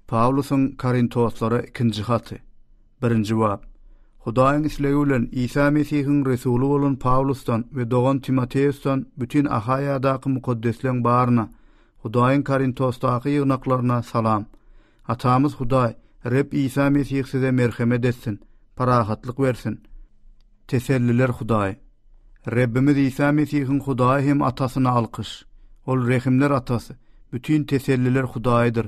Pawlusyň Korintoslara ikinji haty. Birinji bap. Hudaýyň islegi bilen Isa Mesihiň resuly bolan Pawlusdan we dogan Timoteusdan bütin Ahaýadaky mukaddesleň baryna, Hudaýyň Korintosdaky ýygnaklaryna salam. Atamyz Hudaý, Reb Isa Mesih size merhemet etsin, parahatlyk bersin. Teselliler Hudaý. Rebbimiz Isa Mesihiň Hudaýy hem Atasyna alkyş. Ol rehimler Atasy, bütin teselliler Hudaýydyr.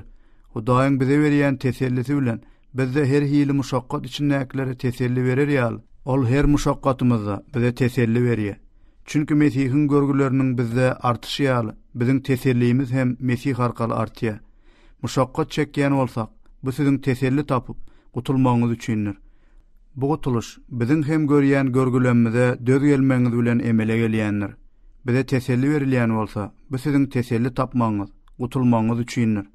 Hudaýyň bize berýän tesellisi bilen biz-de her hili muşakgat içindäkilere teselli berer ýaly, Ol her muşakgatymyzda bize teselli berýär. Çünki Mesihiň görgüleriniň bizde artyşy ýaly, biziň tesellimiz hem Mesih arkaly artýar. Muşakgat çekýän bolsak, bu siziň teselli tapyp, gutulmagyňyz üçindir. Bu gutulyş biziň hem görýän görgülemmize döz gelmegiňiz bilen emele gelýändir. Bize teselli berilýän bolsa, bu siziň teselli tapmagyňyz, gutulmagyňyz üçindir.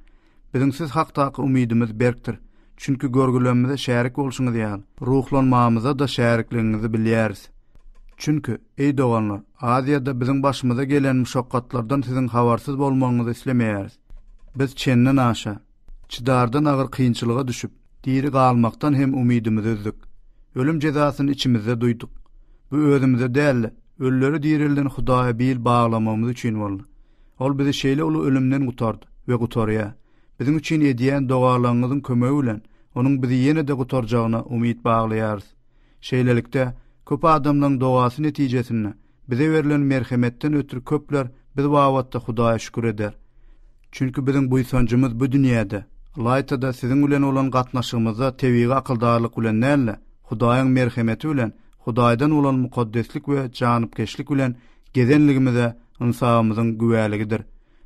Biziň siz hakdaky umydymyz berkdir, çünki görgülemmize şärik bolşuňyz ýaly, ruhlanmamyza-da şärikligiňizi bilýäris. Çünki, eý doganlar, Aziýada biziň başymyza gelen muşakgatlardan siziň habarsyz bolmagyňyzy islemeýäris. Biz çendenaşa, Çydardan agyr kynçylyga düşüp, diri galmakdan hem umydymyzy üzdik. Ölüm jezasyny içimizde duýduk. Bu özümize däl-de, ölüleri direlden Hudaýa bil baglamagymyz üçin boldy. Ol bizi şeýle uly ölümden gutardy we gutarýar. Biziň üçin edýän dogalaryňyzyň kömegi bilen Onuň bizi ýene-de gutarjagyna umyt baglaýarys. Şeýlelikde, köp adamlaryň dogasy netijesinde Bize berlen merhemetden ötri köpler biz babatda Hudaýa şükür eder. Çünki biziň buýsanjymyz bu dünýäde, ylaýta-da siziň bilen bolan gatnaşygymyzda tebigy akyldarlyk bilen däl-de, Hudaýyň merhemeti bilen, Hudaýdan bolan mukaddeslik we janypkeşlik bilen gezenligimize ynsabymyzyň güwäligidir.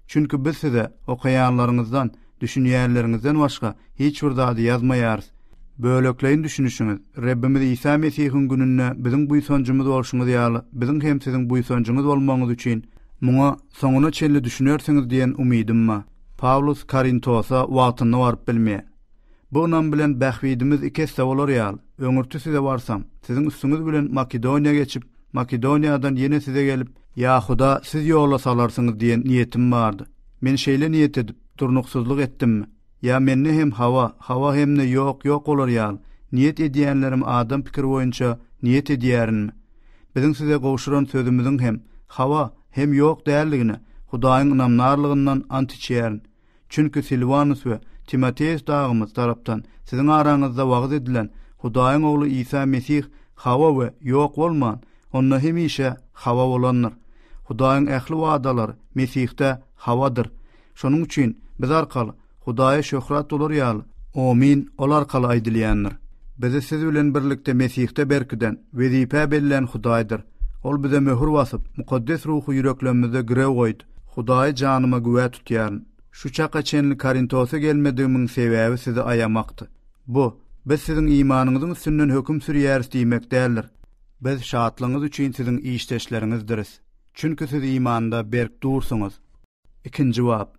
Çünki biz size okaýanlaryňyzdan, düşünýänleriňizden başga hiç bir zady ýazmaýarys. Bölekleýin düşünişiňiz. Rebbimiz Isa Mesihiň gününde biziň buýsanjymyz bolşuňyz ýaly, biziň hem siziň buýsanjyňyz bolmagyňyz üçin, muňa soňuna çenli düşünersiňiz diýen umydym ba. Pawlus Korintosa wagtynda baryp bilmeý. Bu ynam bilen bähbidimiz iki esse bolar ýaly, öňürti size barsam, siziň üstüňiz bilen Makedoniýa geçip, Makedoniýadan ýene size gelip, ýa-huda siz ýola salarsyňyz diýen niýetim bardy. Men şeýle niýet edip, durnuksyzlyk etdimmi? Ýa mende hem hawa, hawa hem-de ýok, ýok bolar ýaly, niýet edýänlerim adam pikiri boýunça niýet edýärinmi? Biziň size gowşuran sözümiziň hem hawa, hem ýok däldigine Hudaýyň ynamdarlygyndan ant içýärin. Çünki Silwanus we Timoteus dagymyz tarapdan siziň araňyzda wagyz edilen Hudaýyň Ogly Isa Mesih hawa we ýok bolman, onda hemişe hawa bolandyr. Hudaýyň ähli wadalary Mesihde hawadyr. Şonuň üçin biz arkaly Hudaýa şöhrat bolar ýaly, Omyn ol arkaly aýdylýandyr. Bizi siz bilen birlikde Mesihde berkiden, wezipä bellän Hudaýdyr. Ol bize möhür basyp, mukaddes ruhy ýüreklerimizde girew goýdy. Hudaýy janyma güwä tutýaryn, şu çaka çenli Korintose gelmedigimiň sebäbi sizi aýamakdy. Bu, biz siziň imanyňyzyň üstünden höküm sürýäris diýmek däldir. Biz şatlygyňyz üçin siziň işdeşleriňizdiris. Çünki siz imanda berk dursuňyz. Ikinji bap.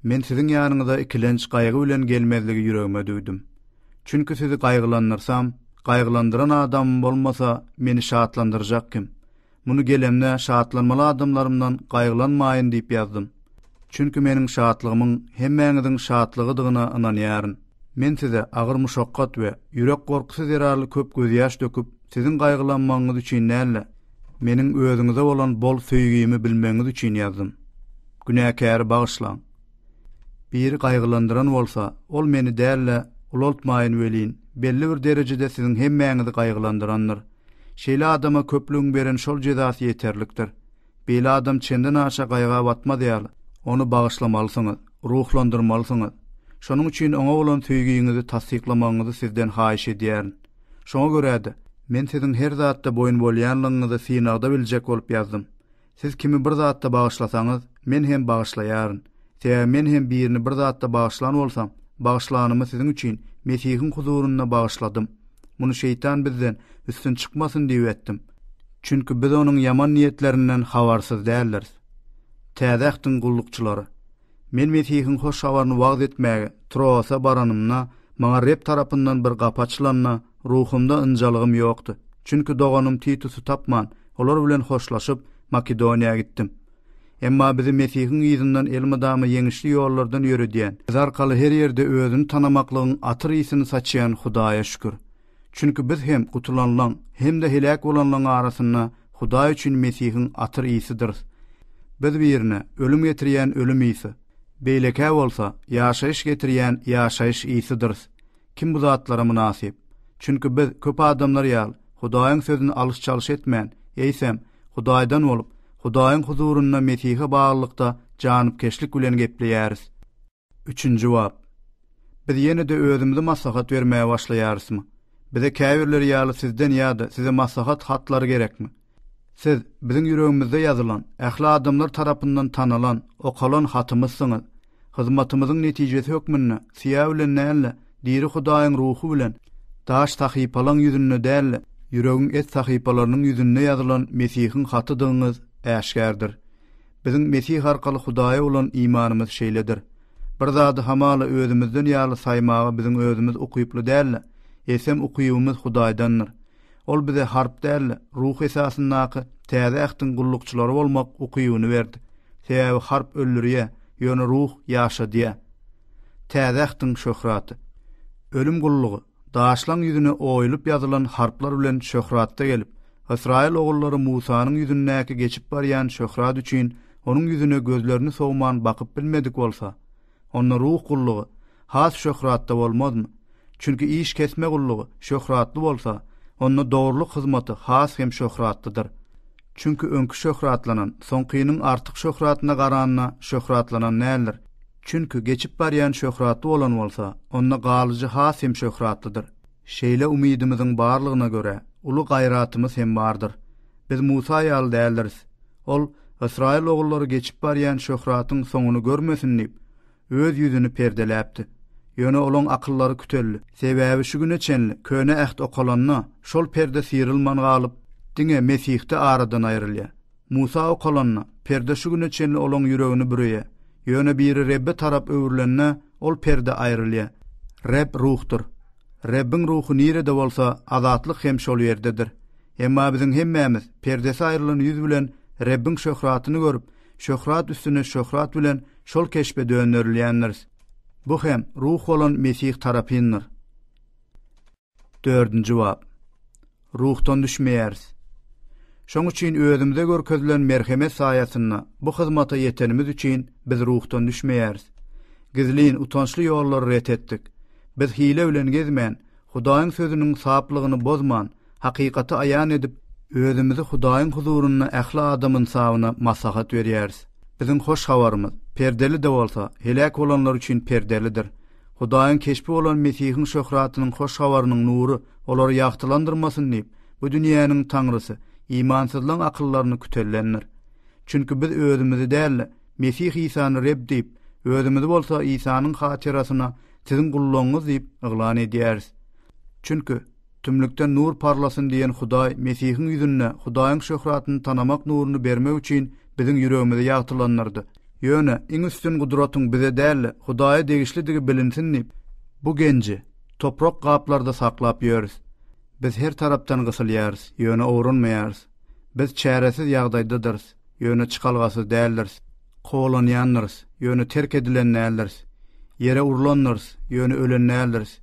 Men siziň ýanyňyza ikilenç, gaýgy bilen gelmezligi ýüregime düwdüm. Çünki sizi gaýgylandyrsam, gaýgylandyran adamym bolmasa, meni şatlandyrjak kim? Muny gelemde şatlanmaly adamlarymdan gaýgylanmaýyn diýip ýazdym. Çünki meniň şatlygymyň hemmäňiziň şatlygydygyna ynanýaryn. Men size agyr muşakgat we ýürek gorkusy zerarly köp gözýaş döküp, siziň gaýgylanmagyňyz üçin däl-de, meniň özüňize bolan bol söýgimi bilmegiňiz üçin ýazdym. Günäkäri bagyşlaň. Biri gaýgylandyran bolsa, ol meni däl-de, ulaltmaýyn welin, belli bir derejede siziň hemmäňizi gaýgylandyrandyr. Şeýle adama köplügiň beren şol jezasy ýeterlikdir. Beýle adam çendenaşa gaýga batmaz ýaly, ony bagyşlamalysyňyz, ruhlandyrmalysyňyz. Şonuň üçin oňa bolan söýgiňizi tassyklamagyňyzy sizden haýyş edýärin. Şoňa görä-de, men siziň her zatda boýun bolýanlygyňyzy synagda biljek bolup ýazdym. Siz kimi bir zatda bagyşlasaňyz, men hem bagyşlaýaryn. Sebäbi men hem birini bir zatda bagyşlan bolsam, bagyşlanymy siziň üçin Mesihiň huzurynda bagyşladym. Muny şeýtan bizden üstün çykmasyn diýip etdim. Çünki biz onuň ýaman niýetlerinden habarsyz däldiris. Täze Ähtiň gullukçylary. Men Mesihiň hoş habaryny wagyz etmäge Troasa baranymda, maňa Reb tarapyndan bir gapy açylanda, ruhumda ynjalygym ýokdy. Çünki doganym Titusy tapman, olar bilen hoşlaşyp, Makedoniýa gitdim. Emma bizi Mesihiň yzyndan elmydama ýeňişli ýollardan ýöredýän, biz arkaly her ýerde özüni tanamaklygyň atyr ysy-ny saçýan Hudaýa şükür! Çünki biz hem gutulanlaň hem-de heläk bolanlaň arasynda Hudaý üçin Mesihiň atyr ysydyrys. Biz birine ölüm getirýän ölüm ysy, beýlekä bolsa ýaşaýyş getirýän ýaşaýyş ysydyrys. Kim bu zatlara mynasyp? Çünki biz köp adamlar ýaly Hudaýyň sözüni alyş-çalyş etmän, eýsem, Hudaýdan bolup, Hudaýyň huzurynda Mesihe baglylykda janypkeşlik bilen gepleýäris. Üçünji bap. Biz ýene-de özümizi maslahat bermäge başlaýarysmy? Bize käbirleri ýaly sizden ýa-da size maslahat hatlary gerekmi? Siz, biziň ýüregimizde ýazylan, ähli adamlar tarapyndan tanalan, okalan hatymyzsyňyz. Hyzmatymyzyň netijesi hökmünde, syýa bilen däl-de, diri Hudaýyň Ruhy bilen, daş sahypalaň ýüzünde däl-de, ýüregiň et sahypalarynyň ýüzünde ýazylan Mesihiň hatydygyňyz äşgärdir. Biziň Mesih arkaly Hudaýa bolan imanymyz şeýledir. Bir zady hamala özümizden ýaly saýmaga biziň özümiz ukyply däl-de, eýsem ukybymyz Hudaýdandyr. Ol bize harp däl-de, ruh esasyndaky Täze Ähtiň gullukçylary bolmak ukybyny berdi. Sebäbi harp öldürýär, ýöne ruh ýaşadýar. Täze Ähtiň şöhraty. Ölüm gullugy. Daşlaň ýüzüne oýulyp ýazylan harplar bilen şöhratda gelip, ysraýyl ogullary Musanyň ýüzündäki geçip barýan şöhrat üçin onuň ýüzüne gözlerini sowman bakyp bilmedik bolsa, onda ruh gullugy has şöhratda bolmazmy? Çünki iş kesme gullugy şöhratly bolsa, onda dogrulyk hyzmaty has hem şöhratlydyr. Çünki öňki şöhratlanan soňkynyň artyk şöhratyna garanda şöhratlanan däldir. Çünki geçip barýan şöhratly bolan bolsa, onda galyjy has hem şöhratlydyr. Şeýle umydymyzyň barlygyna görä, uly gaýratymyz hem bardyr. Biz Musa ýaly däldiris. Ol, Ysraýyl ogullary geçip barýan şöhratyň soňuny görmesin diýip, öz ýüzüni perdeläpdi. Ýöne olaň akyllary küteldi. Sebäbi şu güne çenli Köne Äht okalanda, şol perde syrylman galyp, diňe Mesihde aradan aýrylýar. Musa okalanda, perde şu güne çenli olaň ýüregini büreýär. Ýöne biri Rebbe tarap öwrülende, ol perde aýrylýar. Reb ruhdur. Rebbiň ruhy nirede bolsa, azatlyk hem şol ýerdedir. Emma biziň hemmämiz perdesi aýrylan ýüz bilen Rebbiň şöhratyny görüp, şöhrat üstüne şöhrat bilen şol keşbe dönderilýändiris. Bu hem ruh bolan Mesih tarapyndyr. Dördünji bap. Ruhdan düşmeýäris. Şoň üçin özümize görkezilen merhemet saýasynda bu hyzmata ýetenimiz üçin biz ruhdan düşmeýäris. Gizlin, utançly ýollary ret etdik. Biz hile bilen gezmän, Hudaýyň Sözüniň saplygyny bozman, hakykaty aýan edip, özümizi Hudaýyň huzurynda ähli adam ynsabyna maslahat berýäris. Biziň hoş habarymyz, perdeli-de bolsa, heläk bolanlar üçin perdelidir. Hudaýyň keşbi bolan Mesihiň şöhratynyň hoş habarynyň nury olary ýagtylandyrmasyn diýip, bu dünýäniň taňrysy, imansyzlaryň akyllaryny kütellendir. Çünki biz özümizi däl-de, Mesih Isany Reb diýip, özümizi bolsa Isanyň hatyrasyna siziň gullugyňyz diýip yglan edýäris. Çünki, Tümlükden nur parlasyn diýen Hudaý Mesihiň ýüzünde Hudaýyň şöhratyny tanamak nuruny bermek üçin biziň ýüregimizi ýagtylandyrdy. Ýöne iň üstün gudratyň bize däl-de, Hudaýa degişlidigi bilinsin diýip, bu genji toprak gaplarda saklap ýörüs. Biz her tarapdan gysylýarys, ýöne owranmaýarys. Biz çäresiz ýagdaýdadyrys, ýöne çykalgasyz däldiris. Kowalanýandyrys, ýöne terk edilen däldiris. Ýere urlandyrys, ýöne ölen däldiris.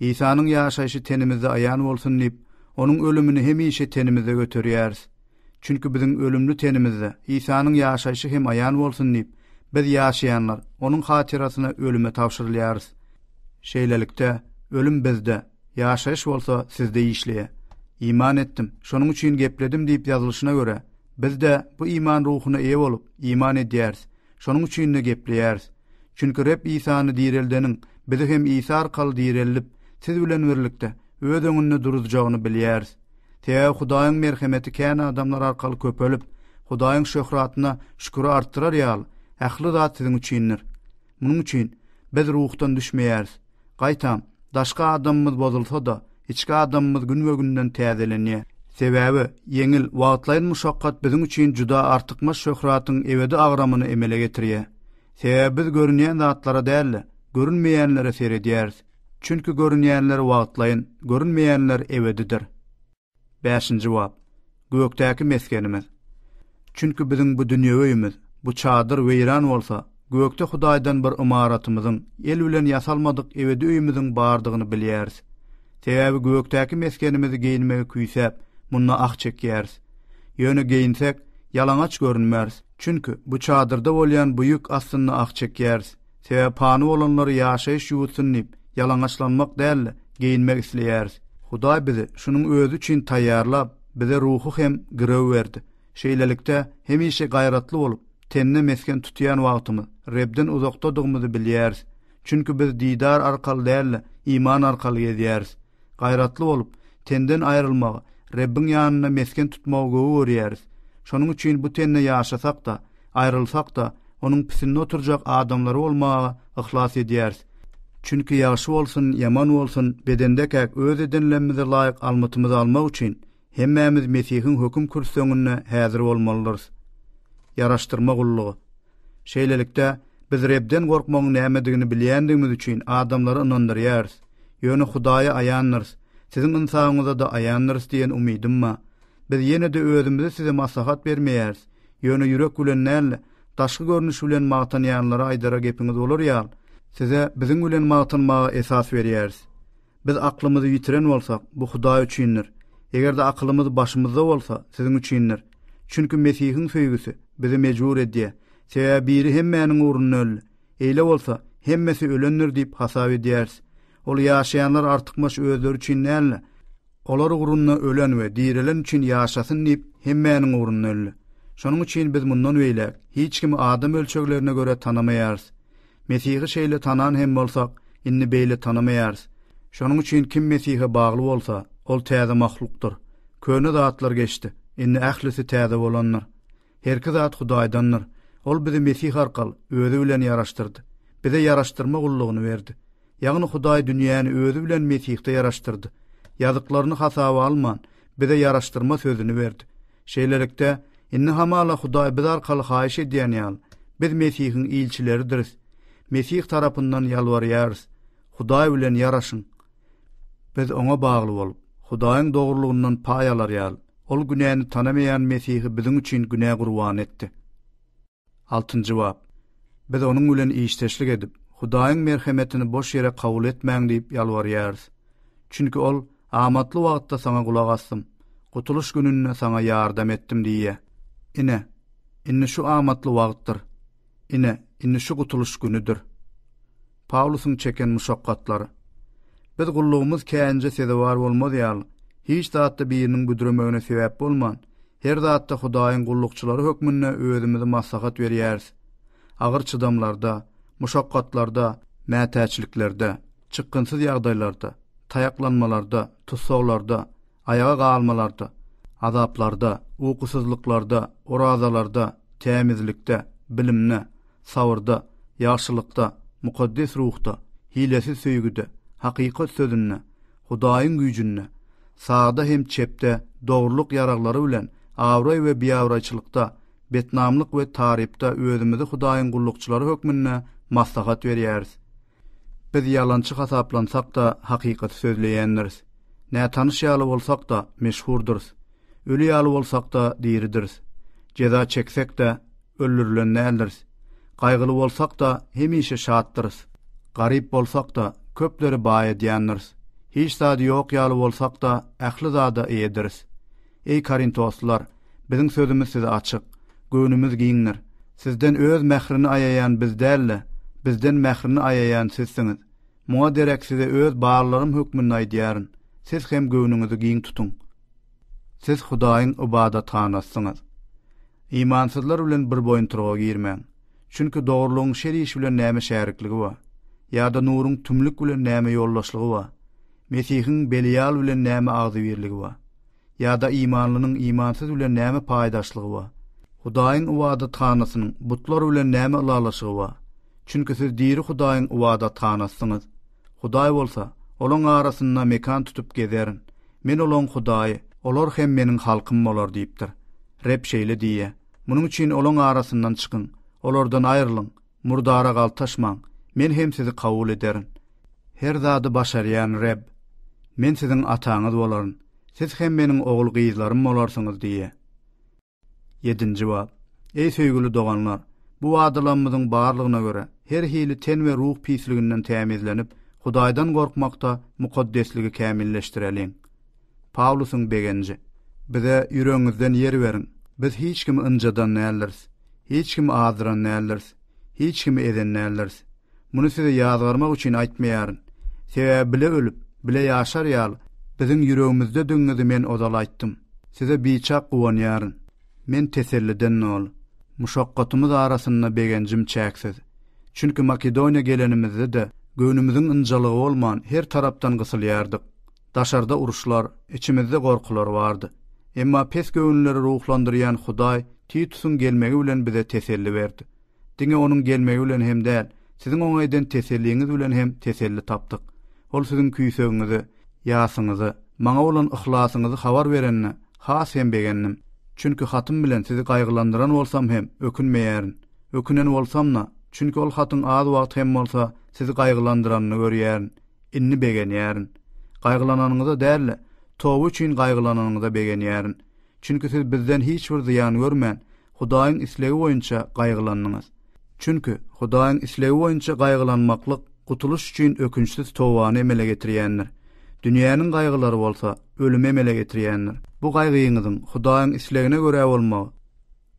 Isanyň ýaşaýşy tenimizde aýan bolsun diýip, onuň ölümini hemişe tenimizde göterýäris. Çünki biziň ölümli tenimizde Isanyň ýaşaýşy hem aýan bolsun diýip, biz ýaşaýanlar onuň hatyrasyna ölüme tabşyrylýarys. Şeýlelikde, ölüm bizde, ýaşaýyş bolsa sizde işleýär. Iman etdim, şonuň üçin gepledim diýip ýazylyşyna görä, biz-de bu iman ruhuna eýe bolup, iman edýäris. Şonuň üçin-de gepleýäris. Çünki Reb Isany direldeniň bizi hem Isa arkaly direldip, siz bilen birlikde Öz öňünde duruzjagyny bilýäris. Sebäbi Hudaýyň merhemeti kän adamlar arkaly köpelip, Hudaýyň şöhratyna şüküri artdyrar ýaly, ähli zat siziň üçindir. Munuň üçin, biz ruhdan düşmeýäris, Gaýtam, daşky adamymyz bozulsa-da, içki adamymyz günbe-günden täzelenýär. Sebäbi, ýeňil, wagtlaýyn muşakgat biziň üçin juda artykmaç şöhratyň ebedi agramyny emele getirýär. Sebäbi biz görünýän zatlara däl-de, görünmeýänlere seredýäris. Çünki görünýänler wagtlaýyn, görünmeýänler ebedidir. Bäşinji bap. Gökdäki mesgenimiz. Çünki biziň bu dünýe öýümiz, bu çadyr weýran bolsa, gökde Hudaýdan bir ymaratymyzyň, el bilen ýasalmadyk ebedi öýümiziň bardygyny bilýäris. Sebäbi gökdäki mesgenimizi geýinmegi küýsäp, munda ah çekýäris. Ýöne geýinsek, ýalaňaç görünmäris, çünki bu çadyrda bolýan bu ýük astynda ah çekýäris. Sebäbi pany bolanlary ýaşaýyş ýuwutsun diýip, ýalaňaçlanmak däl-de, geýinmek isleýäris. Hudaý bizi şunuň özi üçin taýýarlap, bize ruhy hem girew berdi. Şeýlelikde, hemişe gaýratly bolup, tende mesgen tutýan wagtymyz, Rebden uzakdadygymyzy bilýäris. Çünki biz didar arkaly däl-de, iman arkaly gezýäris. Gaýratly bolup, tenden aýrylmagy, Rebbiň ýanynda mesgen tutmagy gowy görýäris. Şonuň üçin bu tende ýaşasak-da, aýrylsak-da, onuň pisinde oturjak adamlary bolmaga yhlas edýäris. Çünki ýagşy bolsun, ýaman bolsun, bedendekäk öz edenlerimize laýyk almytymyzy almak üçin, Hemmämiz Mesihiň höküm kürsüsinde häzir bolmalydyrys. Ýaraşdyrma gullugy. Şeýlelikde, biz Rebden gorkmagyň nämedigini bilýändigimiz üçin adamlary ynandyrýarys, ýöne Hudaýa aýandyrys, siziň ynsabyňyza-da aýandyrys diýen umydym ba. Biz ýene-de özümizi size maslahat bermeýäris, ýöne ýürek bilen däl-de, daşky görnüş bilen magtanýanlara aýdara gepiňiz bolar ýaly, size biziň bilen magtanmaga esas berýäris. Biz aklymyzy ýitiren bolsak, bu Hudaý üçindir. Eger-de akylymyz başymyzda bolsa, siziň üçindir. Çünki Mesihiň söýgüsi bizi mejbur edýär. Sebäbi biri hemmäniň ugrunda öldi. Eýle bolsa, hemmesi ölendir diýip hasap edýäris. Ol ýaşaýanlar artykmaç özleri üçin däl-de, olar ugrunda ölen we direlen üçin ýaşasyn diýip, hemmäniň ugrunda öldi. Şonuň üçin biz mundan beýläk hiç kimi adam ölçeglerine görä tanamaýarys. Mesihi şeýle tanan hem bolsak, indi beýle tanamaýarys. Şonuň üçin kim Mesihe bagly bolsa, ol täze mahlukdyr. Köne zatlar geçdi, indi ählisi täze bolandyr. Herki zat Hudaýdandyr. Ol bizi Mesih arkaly Özi bilen ýaraşdyrdy. Bize ýaraşdyrma gullugyny berdi. Ýagny Hudaý dünýäni özi bilen Mesihde ýaraşdyrdy. Ýazyklaryny hasaba alman, bize ýaraşdyrma sözüni berdi. Şeýlelikde, indi hamala Hudaý biz arkaly haýyş edýän ýaly, biz Mesihiň ilçileridiris. Mesih tarapyndan ýalbarýarys, Hudaý bilen ýaraşyň. Biz Oňa bagly bolup, Hudaýyň dogrulygyndan paý alar ýaly, Ol günäni tanamaýan Mesihi biziň üçin günä gurbany etdi. Altynjy bap. Biz onuň bilen işdeşlik edip, Hudaýyň merhemetini boş ýere kabul etmäň diýip ýalbarýarys. Çünki ol, Amatly wagtda saňa gulak asdym, gutulyş gününde saňa ýardam etdim diýýär. Ine, indi şu amatly wagtdyr. Ine, indi şu gutulyş günüdir. Pawlusyň çeken muşakgatlary. Biz gullugymyz käýinje sezewar bolmaz ýaly, hiç zatda biriniň büdremegine sebäp bolman, her zatda Hudaýyň gullukçylary hökmünde özümizi maslahat berýäris. Agyr çydamlarda, muşakgatlarda, mätäçliklerde, çykgynsyz ýagdaýlarda, taýaklanmalarda, tussaglarda, aýaga galmalarda, azaplarda, ukusyzlyklarda, orazalarda, tämizlikde, bilimde, sabyrda, ýagşylykda, mukaddes ruhda, hilesiz söýgüde, hakykat sözünde, Hudaýyň güýjünde, sagda hem çepde, dogrulyk ýaraglary bilen abraý we biabraýçylykda, betnamlyk we tarypda özümizi Hudaýyň gullukçylary hökmünde maslahat berýäris. Biz ýalançy hasaplansak-da, hakykaty sözleýändiris. Nätanyş ýaly bolsak-da, meşhurdyrys. Öli ýaly bolsak-da, diridiris. Jeza çeksek-de, öldürilen däldiris. Gaýgyly bolsak-da, hemişe şatdyrys. Garyp bolsak-da, köpleri baý edýändiris. Hiç zady ýok ýaly bolsak-da, ähli zada eýediris. Eý korintoslylar! Biziň sözümiz size açyk. Göwnümiz giňdir. Sizden öz mährini aýaýan biz däl-de, bizden mährini aýaýan sizsiňiz. Muňa derek size öz barlarym hökmünde aýdýaryn, siz hem göwnüňizi giň tutuň. Siz Hudaýyň ybadathanasysyňyz. Imansyzlar bilen bir boýuntyryga girmäň. Çünki dogrulygyň şer iş bilen näme şärikligi bar? Ýa-da nuruň tümlük bilen näme ýoldaşlygy bar? Mesihiň Belial bilen näme agzybirligi bar? Ýa-da imanlynyň imansyz bilen näme paýdaşlygy bar? Hudaýyň ybadathanasynyň butlar bilen näme ylalaşygy bar? Çünki siz diri Hudaýyň ybadathanasysyňyz. Hudaý bolsa, Olaň arasynda mekan tutup gezerin. Men olaň Hudaýy, olar hem Meniň halkym bolar diýipdir. Reb şeýle diýýär. Munuň üçin olaň arasyndan çykyň, olardan aýrylyň. Murdara galtaşmaň, men hem sizi kabul ederin. Her zady başarýan Reb, Men siziň ataňyz bolaryn, siz hem Meniň ogul-gyzlarym bolarsyňyz diýýär. Ýedinji bap. Eý, söýgüli doganlar! Bu wadalamyzyň barlygyna görä, her hili ten we ruh pisliginden tämizlenip, Hudaýdan gorkmakda mukaddesligi kämilleşdireliň. Pawlusyň begenji, Bize ýüregiňizden ýer beriň, biz hiç kimi ynjadan däldiris, hiç kimi azdyran däldiris, hiç kimi ezen däldiris. Muny size ýazgarmak üçin aýtmaýaryn. Sebäbi bile ölüp, bile ýaşar ýaly, biziň ýüregimizdedigňizi men ozal aýtdym. Size biçak guwanýaryn. Men teselliden doly. Muşakgatymyz arasynda begenjim çäksiz. Çünki Makedoniýa gelenimizde-de, göwnümiziň ynjalygy bolman, her tarapdan gysylýardyk. Daşarda uruşlar, içimizde gorkular bardy. Emma pes göwünleri ruhlandyrýan Hudaý Titusyň gelmegi bilen bize teselli berdi. Diňe onuň gelmegi bilen hem däl, siziň oňa eden teselliňiz bilen hem teselli tapdyk. Ol siziň küýsegiňizi, ýasyňyzy, maňa bolan yhlasyňyzy habar berende, has hem begendim. Çünki hatym bilen sizi gaýgylandyran bolsam hem, ökünmeýärin. Ökünen bolsam-da, çünki ol hatyň az wagt hem bolsa sizi gaýgylandyranyny görýärin. Indi begenýärin. Gaýgylananyňyza däl-de, toba üçin gaýgylananyňyza begenýärin. Çünki siz bizden hiç bir zyýan görmän, Hudaýyň islegi boýunça gaýgylandyňyz. Çünki, Hudaýyň islegi boýunça gaýgylanmaklyk gutulyş üçin ökünçsiz tobany emele getirýändir. Dünýäniň gaýgylary bolsa ölümi emele getirýändir. Bu gaýgyňyzyň Hudaýyň islegine görä bolmagy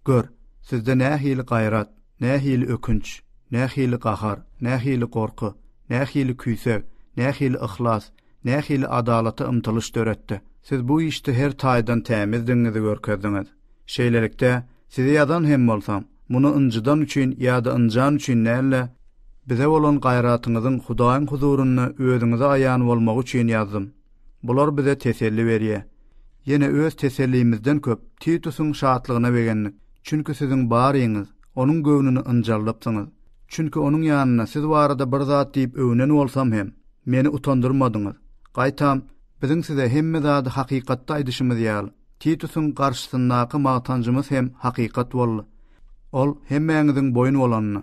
Gör, sizde nähili gaýrat, nähili ökünç, nähili gahar, nähili gorky, nähili küýseg, nähili yhlas, nähili adalata ymtylyş döretdi. Siz bu işde her taýdan tämizdigiňizi görkezdiňiz. Şeýlelikde, size ýazan hem bolsam, muny ynjydan üçin ýa-da ynjan üçin däl-de, bize bolan gaýratyňyzyň Hudaýyň huzurynda özüňize aýan bolmagy üçin ýazdym. Bular bize teselli berýär. Ýene öz tesellimizden köp Titusyň şatlygyna begendik, çünki siziň baryňyz onuň göwnüni ynjaldypsyňyz. Çünki onuň ýanynda siz barada bir zat diýip öwnen bolsam hem, meni utandyrmadyňyz. Gaýtam, biziň size hemme zady hakykatda aýdyşymyz ýaly, Titusyň garşysyndaky magtanjymyz hem hakykat boldy. Ol hemmäňiziň boýun bolanyny,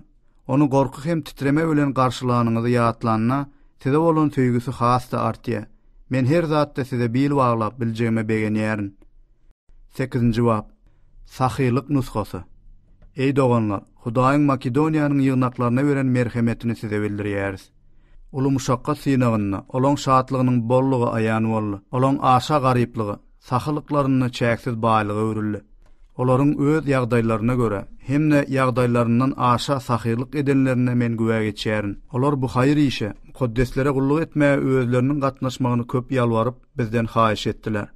Ony gorky hem titreme bilen garşylanyňyzy ýatlanda, size bolan söýgüsi has-da artýar. Men her zatda size bil baglap biljegime begenýärin. Sekizinji bap. Sahylyk nusgasy. Eý doganlar, Hudaýyň Makedoniýanyň ýygnaklaryna beren merhemetini size bildirýäris. Uly muşakgat synagynda olaň şatlygynyň bollugy aýan boldy. Olaň aşa garyplygy sahylyklaryny çäksiz baýlyga öwrüldi. Olaryň öz ýagdaýlaryna görä hem-de ýagdaýlaryndan aşa sahylyk edenlerine men güwä geçýärin. Olar bu haýyr işe, mukaddeslere gulluk etmäge özleriniň gatnaşmagyny köp ýalbaryp, bizden haýyş etdiler.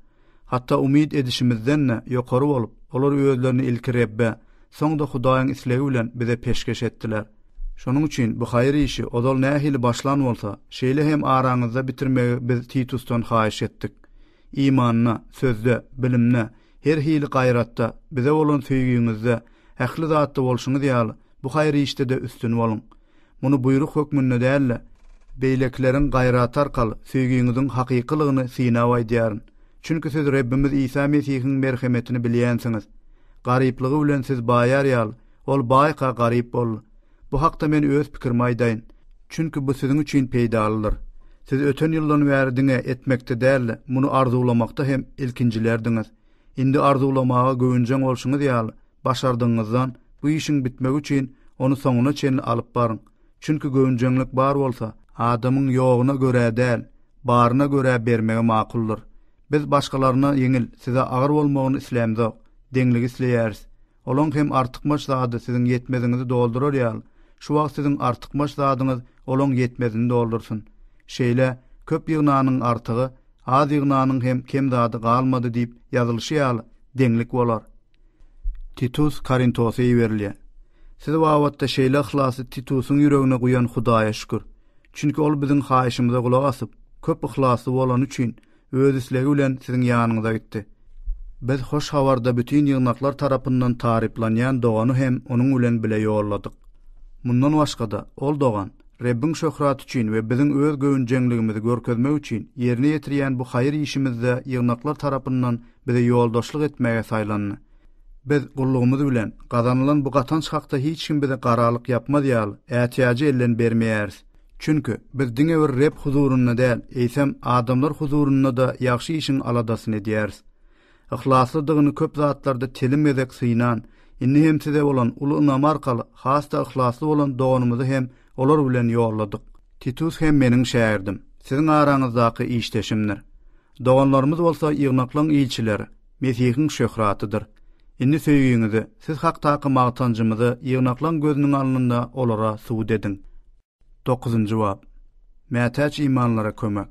hatda umyt edişimizden-de ýokary bolup, olar özlerini ilki Rebbe, soň-da Hudaýyň islegi bilen bize peşgeş etdiler. Şonuň üçin bu haýyr işi ozal nähili başlan bolsa, şeýle hem araňyzda bitirmegi biz Titusdan haýyş etdik. Imanda, sözde, bilimde, her hili gaýratda, bize bolan söýgiňizde, ähli zatda bolşuňyz ýaly, bu haýyr işde-de üstün boluň. Muny buýruk hökmünde däl-de, beýlekileriň gaýraty arkaly söýgiňiziň hakykylygyny synap aýdýaryn. Çünki siz Rebbimiz Isa Mesihiň merhemetini bilýänsiňiz. Garyplygy bilen siz baýar ýaly, ol baýka garyp boldy. Bu hakda men öz pikirimi aýdaýyn. Çünki bu siziň üçin peýdalydyr. Siz öten ýyldan bäri diňe etmekde däl-de, muny arzuwlamakda hem ilkinjilerdiňiz. Indi arzuwlamaga göwünjeň bolşuňyz ýaly, başardygyňyzdan bu işiň bitmegi üçin ony soňuna çenli alyp baryň. Çünki göwünjeňlik bar bolsa, adamyň ýogyna görä däl, baryna görä bermegi makuldyr. Biz başgalaryna ýeňil, size agyr bolmagyny islämzok, deňligi isleýäris. Olaň hem artykmaç zady siziň ýetmeziňizi doldurar ýal, şu wagt siziň artykmaç zadyňyz olaň ýetmezini doldursyn. Şeýle, Köp ýygnanyň artygy, az ýygnanyň hem kem zady galmady diýip ýazylyşy ýaly, deňlik bolar. Titus Korintosa iberilýär. Siz babatda şeýle yhlasy Titusyň ýüregine guýan Hudaýa şükür. Çünki ol biziň haýyşymyza gulak asyp, köp yhlasly bolany üçin, öz islegi bilen siziň ýanyňyza gitdi. Biz hoş habarda bütin ýygnaklar tarapyndan taryplanýan dogany hem onuň bilen bile ýolladyk. Mundan başga-da, ol dogan, Rebbiň şöhraty üçin we biziň öz göwünjeňligimizi görkezmek üçin ýerine ýetirýän bu haýyr işimizde ýygnaklar tarapyndan bize ýoldaşlyk etmäge saýlandy. Biz gullugymyz bilen, gazanylan bu gatanç hakda hiç kim bize garalyk ýapmaz ýaly, ätiýajy elden bermeýäris. Çünki, biz diňe bir Reb huzurynda däl, eýsem, adamlar huzurynda-da ýagşy işiň aladasyny edýäris. Yhlaslydygyny köp zatlarda telim gezek synan, indi hem size bolan uly ynamy arkaly has-da yhlasly bolan doganymyzy hem olar bilen ýolladyk. Titus hem meniň şägirdim, siziň araňyzdaky işdeşimdir. Doganlarymyz bolsa ýygnaklaryň ilçileri. Mesihiň şöhratydyr. Indi söýgiňizi, Siz hakdaky magtanjymyzy ýygnaklaň gözüniň alnynda olara subut ediň. Dokuzynjy bap. Mätäç imanlara kömek.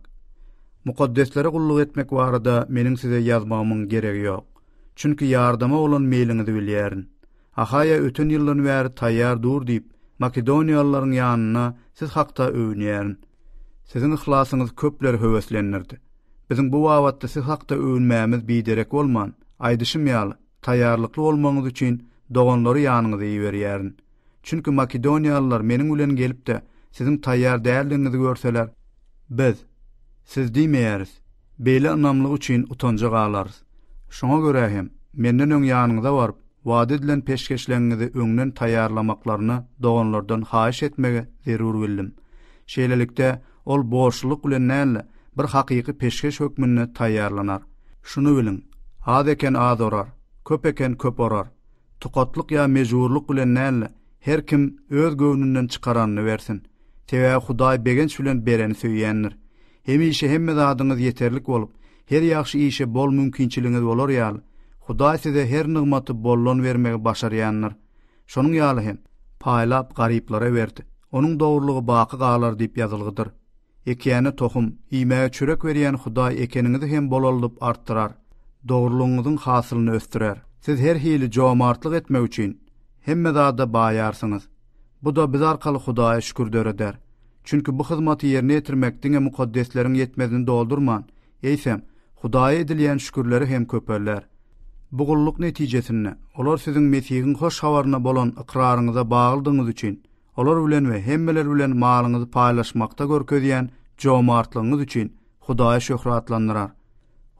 Mukaddeslere gulluk etmek barada meniň size ýazmagymyň geregi ýok. Çünki ýardama bolan meýliňizi bilýärin. Ahaýa öten ýyldan bäri taýýar dur diýip, makedoniýalylaryň ýanynda siz hakda öwünýärin. Siziň yhlasyňyz köpleri höweslendirdi. Biziň bu babatda siz hakda öwünmämiz biderek bolman, aýdyşym ýaly, taýýarlykly bolmagyňyz üçin doganlary ýanyňyza iberýärin. Çünki makedoniýalylar meniň bilen gelip-de, siziň taýýar däldigiňizi görseler, Biz, Siz diýmeýäris, Beýle ynamlyk üçin utanja galarys. Şoňa görä hem, menden öň ýanyňyza baryp, wada edilen peşgeşleňňizi öňden taýýarlamaklaryny doganlardan haýyş etmegi zerur bildim. Şeýlelikde, ol borçlulyk bilen däl-de, bir hakyky peşgeş hökmünde taýýarlanar. Şuny biliň, az eken az orar, köp eken köp orar. Tukatlyk ýa mejburlyk bilen däl-de, her kim öz göwnünden çykaranyny bersin. Sebäbi Hudaý begenç bilen bereni söýýändir. Hemişe hemme zadyňyz ýeterlik bolup, her ýagşy işe bol mümkinçiligiňiz bolar ýaly, Hudaý size her nygmaty boldan bermegi başarýandyr. Şonuň ýaly hem, Paýlap, garyplara berdi, onuň dogrulygy baky galar diýip ýazylgydyr. Ekýäne tohum, iýmäge çörek berýän Hudaý ekeniňizi hem bolaldyp artdyrar, dogrulygyňyzyň hasylyny ösdürer. Siz her hili jomartlyk etmek üçin, hemme zada baýarsyňyz. Bu-da biz arkaly Hudaýa şükür döreder. Çünki bu hyzmaty ýerine ýetirmek diňe mukaddesleriň ýetmezini doldurman, eýsem, Hudaýa edilýän şükürleri hem köpelder. Bu gulluk netijesinde, olar siziň Mesihiň hoş habaryna bolan ykraryňyza baglydygyňyz üçin, olar bilen we hemmeler bilen malyňyzy paýlaşmakda görkezýän jomartlygyňyz üçin Hudaýy şöhratlandyrar.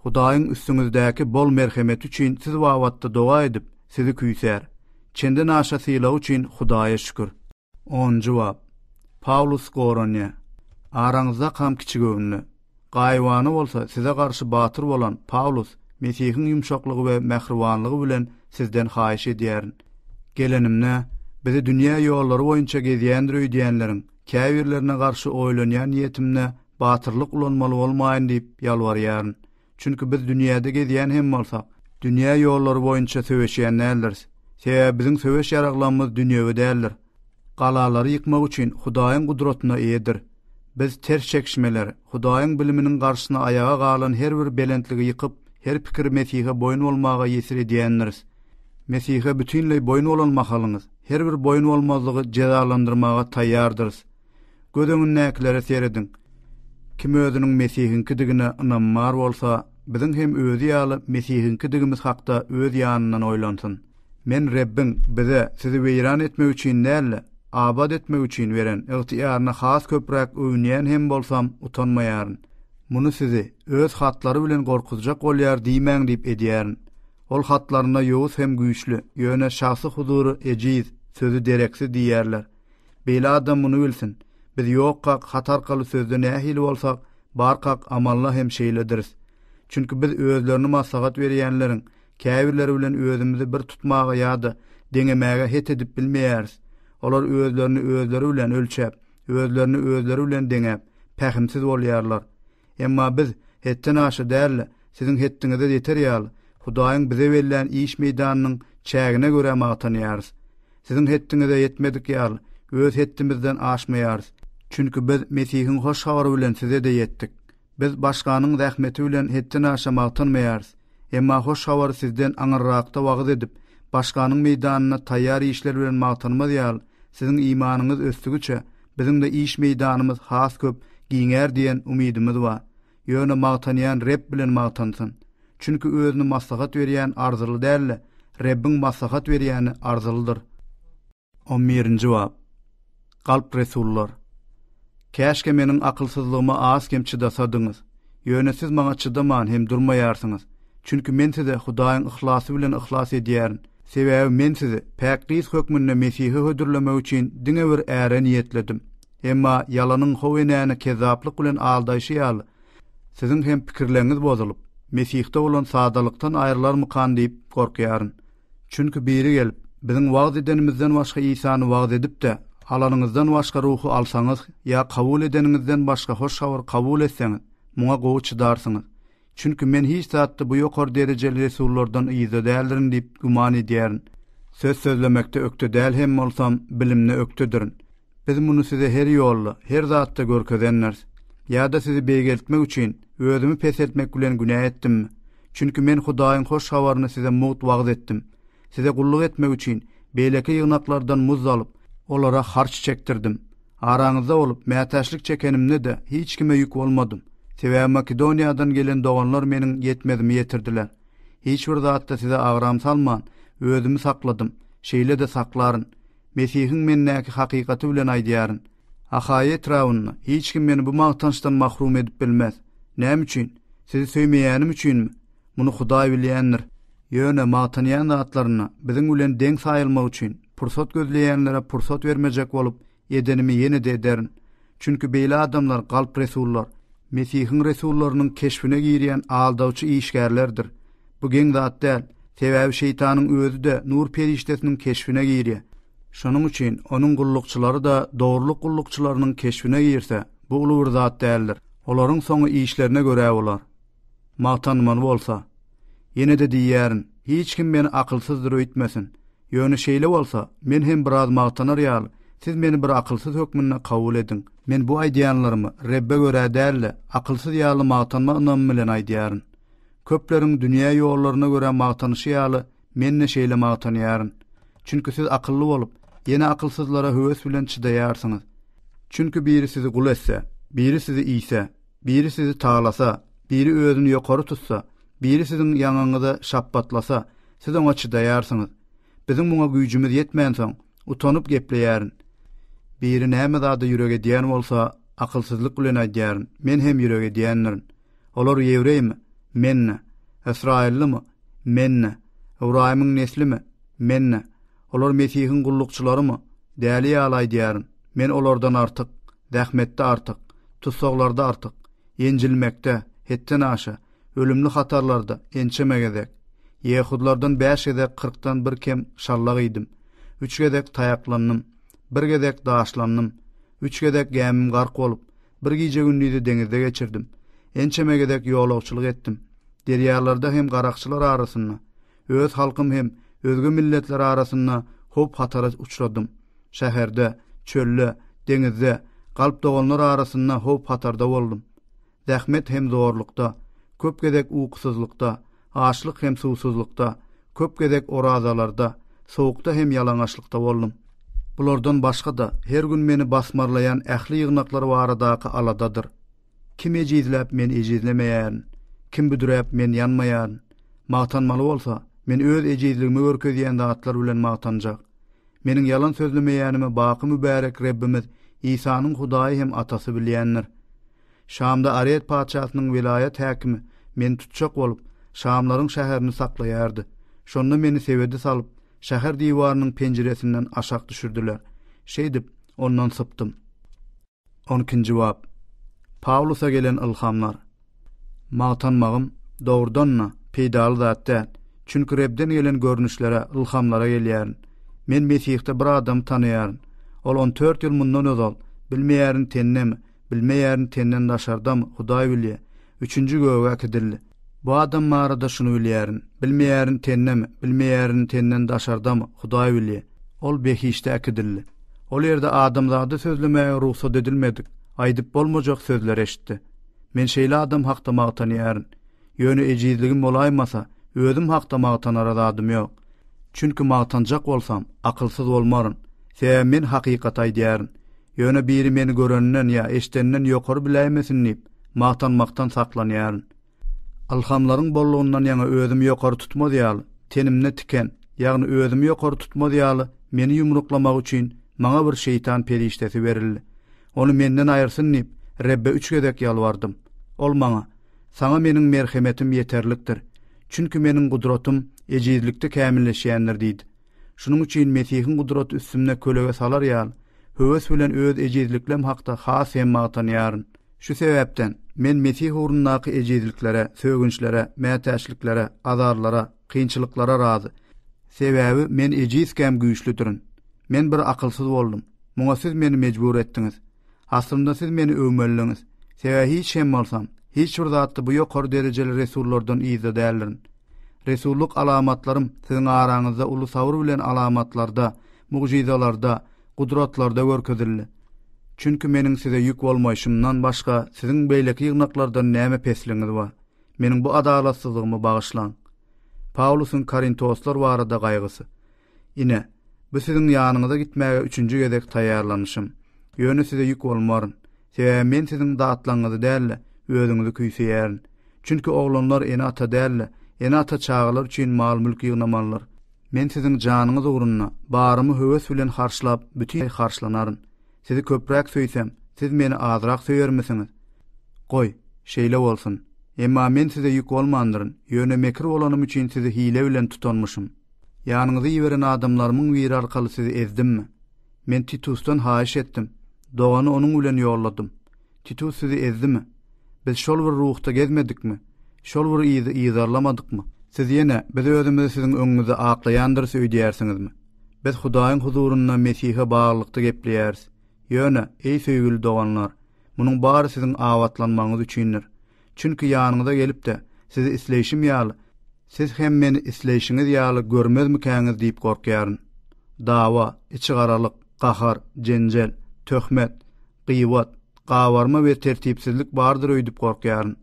Hudaýyň üstüňizdäki bol merhemeti üçin siz babatda doga edip, sizi küýsär. Çendenaşa sylagy üçin Hudaýa şükür. Onunjy bap. Pawlus goranyýa. Araňyzda kam kiçigöwünli. Gaýybana bolsa size garşy batyr bolan Pawlus, Mesihiň ýumşaklygy we mähribanlygy bilen sizden haýyş edýärin. Gelenimde, bizi dünýä ýollary boýunça gezýändir öýdýänleriň käbirlerine garşy oýlanýan niýetimde Batyrlyk ulanmaly bolmaýyn diýip ýalbarýaryn. Çünki biz dünýäde gezýän hem bolsak, dünýä ýollary boýunça söweşýän däldiris. Sebäbi biziň söweş ýaraglamyz dünýewi däldir. Galalary ýykmak üçin Hudaýyň gudratyna eýedir. Biz ters çekişmeleri, Hudaýyň biliminiň garşysyna aýaga galan her bir belentligi ýykyp, her pikiri Mesihe boýun bolmaga ýesir edýändiris. Mesihe bütinleý boýun bolan mahalyňyz, her bir boýun bolmazlygy jezalandyrmaga taýýardyrys. Göz öňündäkilere serediň. Kim özüniň Mesihiňkidigine ynamy bar bolsa, biziň hem özi ýaly Mesihiňkidigimiz hakda öz ýanyndan oýlansyn. Men Rebbiň bize sizi weýran etmek üçin däl-de, abat etmek üçin beren ygtyýaryna has köpräk öwünýän hem bolsam, utanmaýaryn. Muny sizi Öz hatlary bilen gorkuzjak bolýar diýmäň diýip edýärin. Ol hatlarynda ýowuz hem güýçli, ýöne şahsy huzury ejiz, sözi dereksiz diýýärler. Beýle adam muny bilsin, biz ýokkak, hat arkaly sözde nähili bolsak, barkak, amalla hem şeýlediris. Çünki biz özlerini maslahat berýänleriň käbirleri bilen özümizi bir tutmaga ýa-da deňemäge het edip bilmeýäris. Olar özlerini özleri bilen ölçäp, özlerini özleri bilen deňäp, pähimsiz bolýarlar. Emma biz hetden aşa däl-de, siziň hetdiňize ýeter ýaly, Hudaýyň bize bellän iş meýdanynyň çägine görä magtanýarys. Siziň hetdiňize ýetmedik ýaly, öz hetdimizden aşmaýarys. Çünki biz Mesihiň hoş habary bilen size-de ýetdik. Biz başganyň zähmeti bilen hetden aşa magtanmaýarys. Emma hoş habary sizden aňyrrakda wagyz edip, başganyň meýdanyna taýýar işler bilen magtanmaz ýaly, siziň imanyňyz ösdügiçe, Biziň-de iş meýdanymyz has köp giňär diýen umydymyz bar. Ýöne magtanýan Reb bilen magtansyn. Çünki özüni maslahat berýän arzyly däl-de, Rebbiň maslahat berýäni arzylydyr. On birinji bap. Galp resullar. Käşgä meniň akylsyzlygyma az-kem çydasadyňyz! Ýöne siz maňa çydaman hem durmaýarsyňyz. Çünki men size Hudaýyň yhlasy bilen yhlas edýärin. Sebäbi men sizi päk gyz hökmünde Mesihe hödürlemek üçin diňe bir äre niýetledim. Emma ýalanyň how enäni kezzaplyk bilen aldaýşy ýaly, siziň hem pikirleňňiz bozulyp, Mesihde bolan sadalykdan aýrylarmykan diýip gorkýaryn. Çünki biri gelip, Biziň wagyz edenimizden başga Isany wagyz edip-de, alanyňyzdan başga Ruhy alsaňyz ýa kabul edeniňizden başga hoş habary kabul etseňiz, muňa gowy çydarsyňyz. Çünki men hiç zatda bu ýokary derejeli resullardan yzda däldirin diýip güman edýärin. Söz sözlemekde ökde däl hem bolsam, bilimde ökdedirin. Biz muny size her ýolda, her zatda görkezendiris. Ýa-da sizi beýgeltmek üçin, özümi peseltmek bilen günä etdimmi? Çünki men Hudaýyň hoş habaryny size mugt wagyz etdim. Size gulluk etmek üçin, beýleki ýygnaklardan muz alyp, olara harç çekdirdim. Araňyzda bolup, mätäçlik çekenimde-de hiç kime ýük bolmadym. Sebäbi Makedoniýadan gelen doganlar meniň ýetmezimi ýetirdiler. Hiç bir zatda size agram salman, özümi sakladym, şeýle-de saklaryn. Mesihiň mendäki hakykaty bilen aýdýaryn. Ahaýa etrabynda hiç kim meni bu magtançdan mahrum edip bilmez. Näme üçin? Sizi söýmeýänim üçinmi? Muny Hudaý bilýändir. Ýöne magtanýan zatlaryna biziň bilen deň saýylmak üçin pursat gözleýänlere pursat bermejek bolup, edenimi ýene-de ederin. Çünki beýle adamlar galp resullar, Mesihiň resullarynyň keşbine girýän aldawçy işgärlerdir. Bu geň zat däl, sebäbi Şeýtanyň özi-de nur perişdesiniň keşbine girýär. Şonuň üçin onuň gullukçylary-da dogrulyk gullukçylarynyň keşbine girse, bu uly bir zat däldir. Olaryň soňy işlerine görä bolar. Magtanmaly bolsa, ýene-de diýýärin, hiç kim meni akylsyzdyr öýtmesin. Ýöne şeýle bolsa, men hem biraz magtanar ýaly, siz meni bir akylsyz hökmünde kabul ediň. Men bu aýdýanlarymy Rebbe görä däl-de, akylsyz ýaly magtanma ynamy bilen aýdýaryn. Köpleriň dünýä ýollaryna görä magtanyşy ýaly, men-de şeýle magtanýaryn. Çünki siz akylly bolup, ýene akylsyzlara höwes bilen çydaýarsyňyz. Çünki biri sizi gul etse, biri sizi iýse, Biri sizi talasa, biri özüni ýokary tutsa, biri siziň ýaňaňyza şapbatlasa, siz oňa çydaýarsyňyz. Biziň muňa güýjümiz ýetmänsoň, utanyp gepleýärin. Biri näme zada ýürek edýän bolsa, akylsyzlyk bilen aýdýaryn, Men hem ýürek edýändirin. Olar ýewreými? Men-de. Ysraýyllymy? Men-de. Ybraýymyň neslimi? Men-de. Olar Mesihiň gullukçylarymy? Däli ýaly aýdýaryn, Men olardan artyk. Zähmetde artyk, tussaglarda artyk, ýenjilmekde, hetden aşa, ölümli hatarlarda ençeme gezek. Ýehudlardan bäş gezek kyrkdan bir kem şallak iýdim, üç gezek taýaklandym, bir gezek daşlandym, üç gezek gämim gark bolup, bir gije-gündizi deňizde geçirdim, ençeme gezek ýolagçylyk etdim, derýalarda hem garakçylar arasynda, Öz halkym hem özge milletler arasynda howp-hatara uçradym. Şäherde, çölde, deňizde, galp doganlar arasynda howp-hatarda boldum. Zähmet hem zorlukda, köp gezek ukusyzlykda, açlyk hem suwsuzlykda, köp gezek orazalarda, sowukda hem ýalaňaçlykda boldum. Bulardan başga-da, her gün meni basmarlaýan ähli ýygnaklar baradaky aladadyr. Kim ejizläp, men ejizlemeýän, kim büdräp, men ýanmaýan. Magtanmaly bolsa, men öz ejizligimi görkezýän zatlar bilen magtanjak. Meniň ýalan sözlemeýänimi baky mübärek Rebbimiz Isanyň Hudaýy hem Atasy bilýändir. Şamda Aret patyşasynyň welaýat häkimi meni tutjak bolup, şamlaryň şäherini saklaýardy. Şonda meni sebede salyp, şäher diwarynyň penjiresinden aşak düşürdiler. Şeýdip, ondan sypdym. On ikinji bap. Pawlusa gelen ylhamlar. Magtanmagym, dogrudan-da, peýdaly zat däl. Çünki Rebden gelen görnüşlere, ylhamlara gelýärin. Men Mesihde bir adamy tanaýaryn. Ol on dört ýyl mundan ozal, bilmeýärin tennemi, bilmeýärin tenden daşardamy, Hudaý bilýär, Üçünji göge äkidildi. Bu adam barada şuny bilýärin, bilmeýärin tendemi, bilmeýärin tenden daşardamy, Hudaý bilýär. Ol behişde äkidildi. Ol ýerde adamzada sözlemäge rugsat edilmedik, aýdyp bolmajak sözler eşitdi. Men şeýle adam hakda magtanýaryn. Ýöne ejizligim bolaýmasa, özüm hakda magtanara zadym ýok. Çünki magtanjak bolsam, akylsyz bolmaryn. Sebäbi men hakykaty aýdýaryn. Ýöne biri meni görenden ýa eşdenden ýokary biläýmesin diýip, magtanmakdan saklanýaryn. Ylhamlaryň bollugyndan ýaňa özümi ýokary tutmaz ýaly, tenimde tiken, ýagny özümi ýokary tutmaz ýaly meni ýumruklamak üçin maňa bir şeýtan perişdesi berildi. Ony menden aýyrsyn diýip, Rebbe üç gezek ýalbardym. Ol maňa, Saňa Meniň merhemetim ýeterlikdir. Çünki Meniň gudratym ejizlikde kämilleşýändir diýdi. Şunuň üçin Mesihiň gudraty üstümde kölege salar ýaly, höwes bilen öz ejizlikleim hakda has hem magtanýaryn. Şu sebäpden, men Mesih ugrundaky ejizliklere, sögünçlere, mätäçliklere, azarlara, kynçylyklara razy. Sebäbi men ejizkäm güýçlüdirin. Men bir akylsyz boldum. Muňa siz meni mejbur etdiňiz. Aslynda siz meni öwmelidiňiz. Sebäbi hiç hem bolsam, hiç bir zatda bu ýokary derejeli resullardan yzda däldirin. Resullyk alamatlarym siziň araňyzda uly sabyr bilen alamatlarda, mugjyzalarda, gudratlarda görkezildi. Çünki meniň size ýük bolmaýşymdan başga siziň beýleki ýygnaklardan näme pesligiňiz bar? Meniň bu adalatsyzlygymy bagyşlaň. Pawlusyň korintoslar barada gaýgysy. Ine, bu siziň ýanyňyza gitmäge üçünji gezek taýýarlanyşym. Ýöne size ýük bolmaryn. Sebäbi men siziň datlaňňyzy däl-de, özüňizi küýseýärin. Çünki oglanlar ene-ata däl-de, ene-ata çagalar üçin mal-mülk ýygnamalydyr. Men siziň janyňyz ugrunda barymy höwes bilen harçlap, bütin harçlanaryn. Sizi köpräk söýsem, siz meni azrak söýermisiňiz? Goý, şeýle bolsun. Emma men size ýük bolmandyryn, ýöne mekir bolanym üçin sizi hile bilen tutanmyşym. Ýanyňyza iberen adamlarymyň biri arkaly sizi ezdimmi? Men Titusdan haýyş etdim. Dogany onuň bilen ýolladym. Titus sizi ezdimi? Biz şol bir ruhda gezmedikmi? Şol bir yzy yzarlamadykmy? Siz ýene, Biz özümizi siziň öňüňizde aklaýandyrys öýdýärsiňizmi? Biz Hudaýyň huzurynda Mesihe baglylykda gepleýäris. Ýöne, eý, söýgüli doganlar, Munuň bary siziň abatlanmagyňyz üçindir. Çünki ýanyňyza gelip-de, sizi isleýşim ýaly, siz hem meni isleýşiňiz ýaly görmezmikäňiz diýip gorkýaryn. Dawa, içigaralyk, gahar, jenjel, töhmet, gybat, gabarma we tertipsizlik bardyr öýdüp gorkýaryn.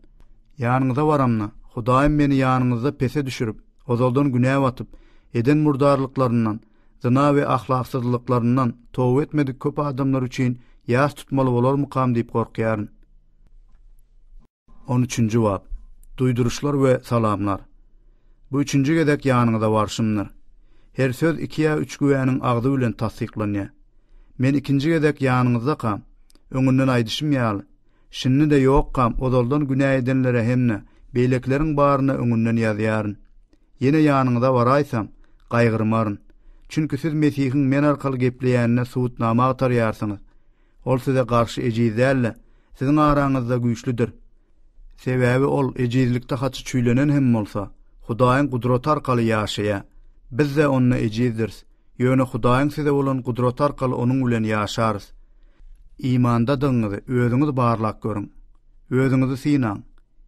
Ýanyňyza baramda, Hudaýym meni ýanyňyzda pese düşürip, ozaldan günä batyp, eden murdarlyklaryndan, zyna we ahlaksyzlyklaryndan toba etmedik köp adamlar üçin ýas tutmaly bolarmykam diýip gorkýaryn. On üçünji bap. Duýduryşlar we salamlar. Bu üçünji gezek ýanyňyza barşymdyr. Her söz iki ýa üç güwäniň agzy bilen tassyklanýar. Men ikinji gezek ýanyňyzdakam, öňünden aýdyşym ýaly, şindi-de ýokkam ozaldan günä edenlere hem-de beýlekileriň baryna öňünden ýazýaryn. Ýene ýanyňyza baraýsam, gaýgyrmaryn. Çünki siz Mesihiň men arkaly gepleýänine subutnama agtarýarsyňyz. Ol size garşy ejiz däl-de, siziň araňyzda güýçlüdir. Sebäbi ol ejizlikde haçy çüýlenen hem bolsa, Hudaýyň gudraty arkaly ýaşaýar. Biz-de onda ejizdiris, ýöne Hudaýyň size bolan gudraty arkaly onuň bilen ýaşarys. Imandadygyňyzy özüňiz barlap görüň. Özüňizi synaň.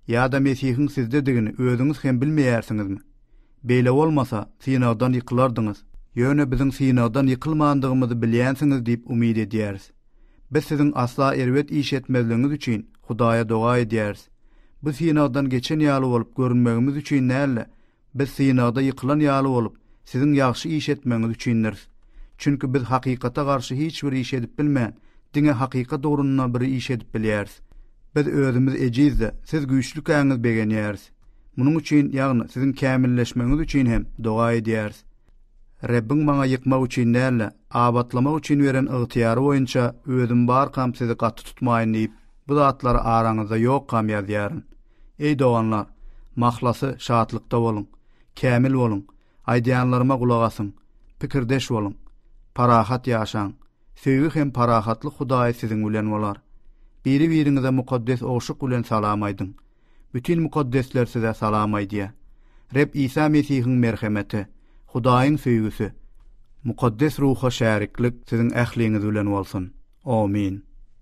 Ýa-da Mesihiň sizdedigini özüňiz hem bilmeýärsiňizmi? Beýle bolmasa, synagdan ýykylardyňyz. Ýöne biziň synagdan ýykylmandygymyzy bilýänsiňiz diýip umyt edýäris. Biz siziň asla erbet iş etmezligiňiz üçin Hudaýa doga edýäris. Bu synagdan geçen ýaly bolup görünmegimiz üçin däl-de, Biz synagda ýykylan ýaly bolup, siziň ýagşy iş etmegiňiz üçindiris. Çünki biz hakykata garşy hiç bir iş edip bilmän, diňe hakykat ugrunda bir iş edip bilýäris. Biz özümiz ejiz-de, siz güýçlükäňiz begenýäris. Munuň üçin, ýagny siziň kämilleşmegiňiz üçin hem doga edýäris. Rebbiň maňa ýykmak üçin däl-de, abatlamak üçin beren ygtyýary boýunça özüm barkam sizi gaty tutmaýyn diýip, bu zatlary araňyzda ýokam ýazýaryn. Eý doganlar, mahlasy şatlykda boluň, kämil boluň, aýdýanlaryma gulak asyň, pikirdeş boluň, parahat ýaşaň, söýgi hem parahatlyk Hudaýy siziň bilen bolar. Biri-biriňize mukaddes ogşuk bilen salam aýdyň. Bütin mukaddesler size salam aýdýar. Reb Isa Mesihiň merhemeti, Hudaýyň söýgüsi, Mukaddes Ruha şäriklik siziň ähliňiz bilen bolsun. Omin.